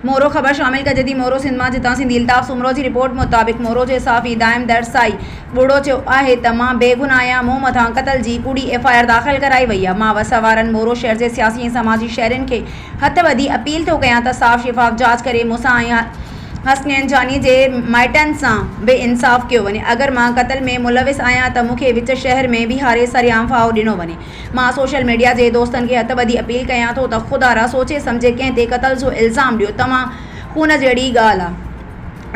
مورو، خبر شامل ڪجي ٿي مورو سنڌ مان جتان سنڌي الطاف سومرو جي رپورٽ مطابق مورو جو صحافي دائم در سائي ٻوڙو چيو آهي ته مان بي گناهه آهيان مون مٿان قتل جي ڪوڙي ايف آء آر داخل ڪرائي وئي آهي مان وس وارن مورو شهر جي سياسي ۽ سماجي شهرين کي هٿ ٻڌي اپيل ٿو ڪيان ته صاف شفاف جاچ ڪري مون سان ۽ حسنين جاني جي مائٽن سان به انصاف ڪيو وڃي اگر مان قتل ۾ ملوث آهيان ته مون کي وچ شهر ۾ بيهاري سرعام ڦاهو ڏنو وڃي مان سوشل ميڊيا جي دوستن کي هٿ ٻڌي اپيل ڪيان ٿو ته خدا را سوچي سمجهي ڪنهن تي قتل جو الزام ڏيو توهان خون جهڙي ڳالهه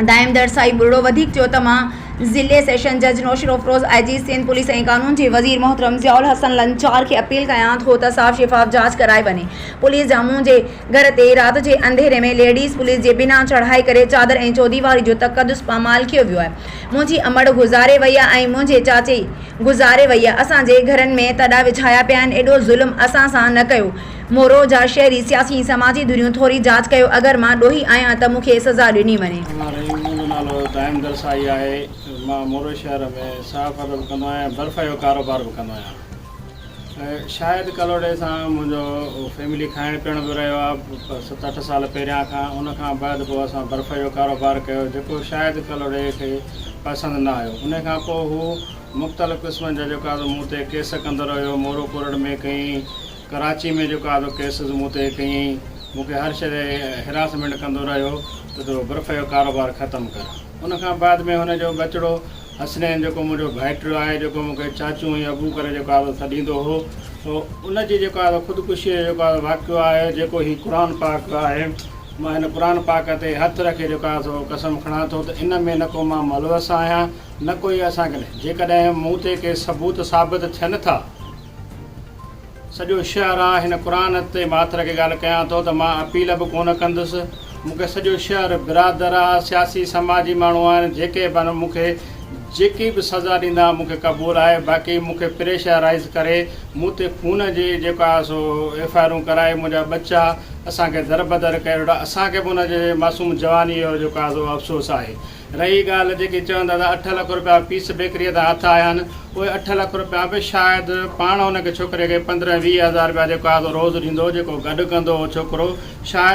آ دائم در سائي ٻرڙو وڌيڪ چيو ته مان ضلعي سيشن جج نوشيروفروز آئي جي سنڌ پوليس ۽ قانون جي وزير محترم ضياء الحسن لنچار کي اپيل ڪيان ٿو ته صاف شفاف جاچ ڪرائي وڃي پوليس جامون جي گهر تي رات جي انڌيري ۾ ليڊيز پوليس جي بنا چڙهائي ڪري چادر ۽ چوديواري جو تقدس پامال ڪيو ويو آهي منهنجي امڙ گذاري وئي آهي ۽ منهنجي چاچي گذاري ويئي اسان جي گهرن ۾ تڏا وڇايا پيا آهن ايڏو ظلم اسان سان نه ڪيو مورو جا شهري سياسي ۽ سماجي ڌريون ٿوري جاچ ڪيو اگر مان ڏوهي آهيان ته مون کي سزا ڏني وڃي. امان رحيم منهنجو نالو دائم درسائي آهي مان مورو شهر ۾ صحافت به ڪندو آهيان ۽ برفيو ڪاروبار به ڪندو آهيان شايد ڪلهوڙي سان منهنجو فيملي کائڻ پيئڻ به رهيو آهي ست اٺ سال پهريان کان ان کان بعد پوء اسان برف جو ڪاروبار ڪيو جيڪو شايد ڪلهوڙي کي پسند نه آيو ان کان پوء هو مختلف قسمن جا جيڪو آهي مون تي ڪيس ڪندو رهيو مورو ڪورٽ ۾ ڪيئين ڪراچي ۾ جيڪو آهي ڪيسز مون تي ڪيئين مون کي هر شيء تي هراسمينٽ ڪندو رهيو ته تو برف جو ڪاروبار ختم ڪر ان کان بعد ۾ هن جو ٻچڙو حسنين جيڪو منهنجو ڀائٽيو آهي، جيڪو مون کي چاچو ۽ ابو ڪري جيڪو آهي سڏيندو هو، ان جي جيڪو آهي خودڪشيء جو جيڪو آهي واقعو آهي، جيڪو هي قرآن پاڪ آهي، مان هن قرآن پاڪ تي هٿ رکي جيڪو آهي سو قسم کڻان ٿو ته ان ۾ نه ڪو مان ملوث آهيان نه ڪو هي اسان ڪنهن جيڪڏهن مون تي ڪي ثبوت ثابت ٿين ٿا. سڄو شهر آ هن قرآن تي ماٿر کي ڳالهه ڪيان ٿو ته مان اپيل به ڪونه ڪندس مون کي سڄو شهر برادر آ سياسي سماجي ماڻهو آهن جيڪي به مون کي جيڪي به سزا ڏيندا مون کي قبول آهي باقي مون کي پريشر رائز ڪري مون تي خون جي جيڪو آ سو ايف آئي آرون ڪرائي منهنجا ٻچا اسان کي دربدر ڪري ويٺو آ اسان کي به ان جي معصوم جواني جو جيڪو آ سو افسوس آهي رهي ڳالهه جيڪي چوندا ته اٺ لک رپيا پيس بيڪريء تان هٿ آيا آهن، اهي اٺ لک رپيا به شايد پاڻ ان کي ڇوڪري کي پندرهن ويهه هزار رپيا جيڪو آهي سو روز ڏيندو هو، جيڪو گڏ ڪندو هو ڇوڪرو شايد.